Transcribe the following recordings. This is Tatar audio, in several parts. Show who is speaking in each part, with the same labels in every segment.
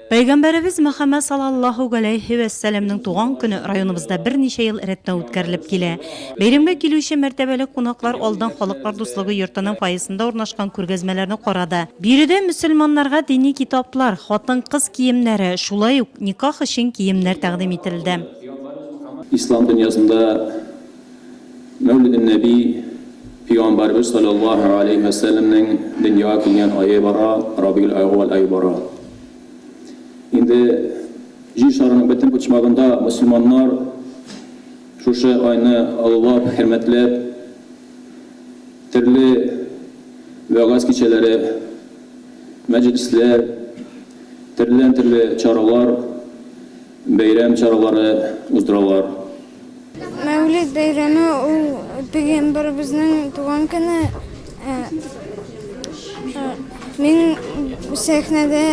Speaker 1: Пәйгамбәребез Мөхәммәд салаллаһу галәйһи вә сәламнең туган көне районыбызда берничә ел рәттән үткәрелеп килә. Бәйрәмгә килүче мәртәбәле кунаклар алдан Халыклар дуслыгы йортының фойесында урнашкан күргәзмәләрне карады. Биредә мөселманнарга дини китаплар, хатын-кыз киемнәре, шулай ук никах өчен киемнәр тәкъдим ителде. Ислам
Speaker 2: дөньясында Мәүлиденнәби, Пөйгамбәрбез салләллаһу галәйһи вә сәлләмнең дөньяга килгән ае бара, Рабигель әүвәл ае бара. Инде Җир шарының бөтен почмагында мөселманнар шушы айны олылап, хөрмәтләп, төрле вәгазь кичәләре, мәҗлесләр, төрледән-төрле чаралар, бәйрәм чаралары уздыралар.
Speaker 3: Мәүлид бәйрәме ул пәйгамбәребезнең туган көне. Ә, ә, мин сәхнәдә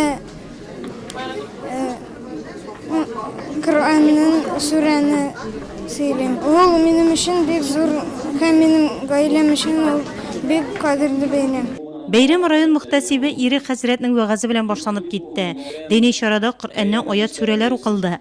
Speaker 3: ә, Коръәннең сүрәне сөйлим. Ул минем өчен бик зур һәм минем гаиләм өчен ул бик кадерле бәйрәм. Бәйрәм район
Speaker 1: мөхтәсибе Ирек хәзрәтнең вәгазе белән башланып китте. Дини чарада Коръәннән аять-сүрәләр укылды.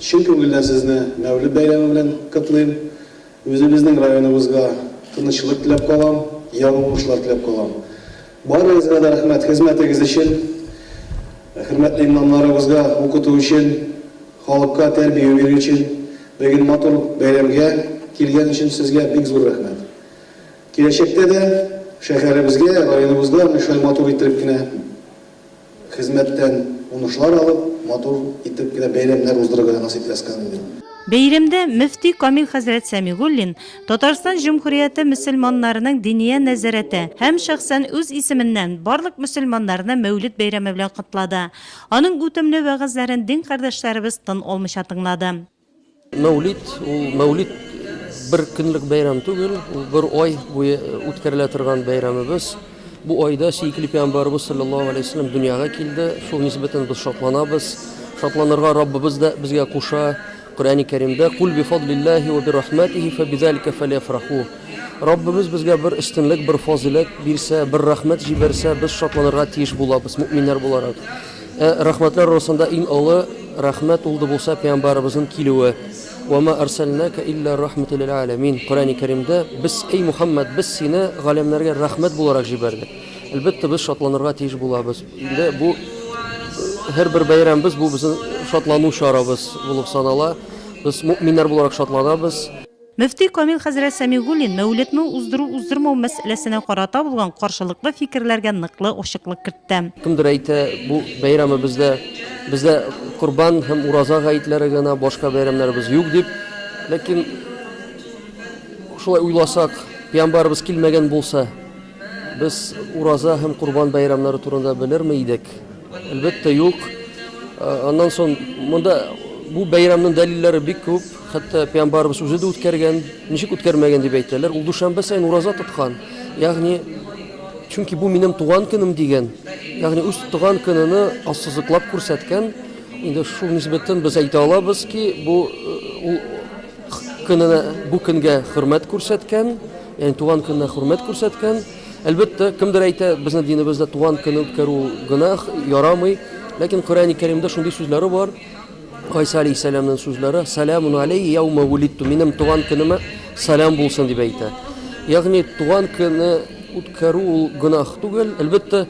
Speaker 4: Чын күңелдән сезне Мәүлет бәйрәме белән котлыйм. Үзебезнең районыбызга тынычлык теләп калам, яңа уңышлар теләп калам. Барыгызга да рәхмәт хезмәтегез өчен, хөрмәтле имамнарыбызга укыту өчен, халыкка тәрбия бирү өчен, беген матур бәйрәмгә килгән өчен сезгә бик зур рәхмәт. Киләчәктә дә шәһәребезгә, районыбызга менә шулай матур иттереп кенә. Хезмәттән унышлар алып, матур итеп кенә бәйрәмнәр уздырырга насыйп ляскан инде. Бәйрәмдә
Speaker 1: мөфти Камил хәзрәт Сәмигуллин Татарстан Җөмһүрияте мөселманнарының Диния нәзарәте һәм шәхсән үз исеменнән барлык мөселманнарны Мәүлид бәйрәме белән котлады. Аның үтемле вәгазьләрен дин кардәшләребез тын алмыйча тыңлады. Мәүлид ул
Speaker 5: мәүлид бер көнлек бәйрәм түгел, ул бер ай буе үткәрелә торган бәйрәмебез. Бу айда сөекле пәйгамбәрбез саллаллаһу алейһи вәсәлләм дөньяга килде. Шул нисбәтен без шатланабыз. Шатланырга Раббыбыз да безгә куша. Коръәни Кәримдә кул би фадлиллаһи ва би рахматихи фа бизалика фалифраху. Раббыбыз безгә бер өстенлек, бер фазыйләт бирсә, бер рәхмәт җибәрсә, без шатланырга тиеш булабыз, мөэминнәр буларак. Ә рәхмәтләр росында иң олы рәхмәт ул ды булса пәйамбарыбызын килүе, Ва ма арсәлнәкә илля рәхмәтү лил әләмин, Коръәни Кәримдә, Без, әй Мухәммәд, без сине галәмнәргә рәхмәт буларак җибәрдек. Әлбәттә, без шатланырга тиеш булабыз. Инде бу һәрбер бәйрәмебез бу безнең шатлану чарабыз булып санала. Без мөэминнәр буларак шатланабыз. Мөфти Камил
Speaker 1: хәзрәт Сәмигуллин Мәүлетны уздыру-уздырмау мәсьәләсенә карата булган каршылыклы фикерләргә ныклы ачыклык кертте. Кемдер әйтә,
Speaker 5: бу бәйрәмебездә бездә Корбан һәм Ураза гаетләре генә, башка бәйрәмнәребез юк дип. Ләкин шулай уйласак, пиамбарыбыз килмәгән булса, Без Ураза һәм Курбан бәйрәмнәре турында белерме идек? Әлбәттә, юк. Аннан соң монда бу бәйрәмнең дәлилләре бик күп. Хәтта пәйгамбарыбыз үзе дә үткәргән, ничек үткәрмәгән дип әйтәләр. Ул дүшәмбе саен ураза тоткан. Ягъни, чөнки бу минем туган көнем дигән, ягъни үз туган көнене ассызыклап күрсәткән. Инде шул нисбәттән без әйтә алабыз ки, бу ул көненә, бу көнгә хөрмәт күрсәткән. Ягъни туган көненә хөрмәт күрсәткән. Әлбәттә, кемдер әйтә, безнең динебездә туган көнне үткәрү ул гөнаһ, ярамый. Ләкин Коръәни Кәримдә шундый сүзләре бар, Гайса алейһиссәламнең сүзләре, Сәләмун аләййә яума вулидту, минем туган көнемә сәлам булсын, дип әйтә. Ягъни туган көнне үткәрү ул гөнаһ түгел. Әлбәттә,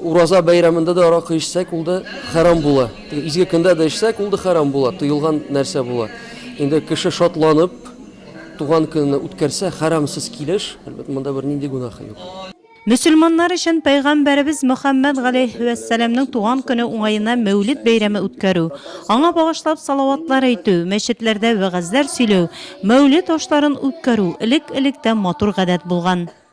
Speaker 5: ураза бәйрәмендә дә аракы эчсәк, ул да хәрам була. Теге изге көндә дә эчсәк, ул да хәрам була, тыелган нәрсә була. Инде кеше шатланып, Туган көнен үткәрсә, хәрамсыз килеш, әлбәттә, монда бер нинди гүнаһы юк. Мөселманнар
Speaker 1: өчен Пәйгамбәребез Мөхәммәд галәйһи вә сәламнең туган көне уңаена Мәүлид бәйрәме үткәрү, аңа багышлап салаватлар әйтү, мәчетләрдә вәгазьләр сөйләү, Мәүлид ашларын үткәрү элек-электән матур гадәт булган.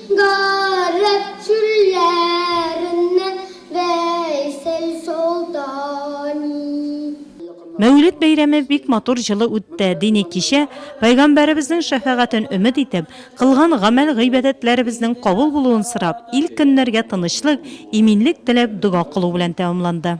Speaker 6: Гарәп чүлләреннән Вәйсәл Солтани.
Speaker 1: Мәүлид бәйрәме бик матур җылы үтте, дини кичә, Пәйгамбәребезнең шәфәгатен өмет итеп, кылган гамәл-гыйбадәтләребезнең кабул булуын сорап, ил-көннәргә тынычлык, иминлек теләп дога кылу белән тәмамланды.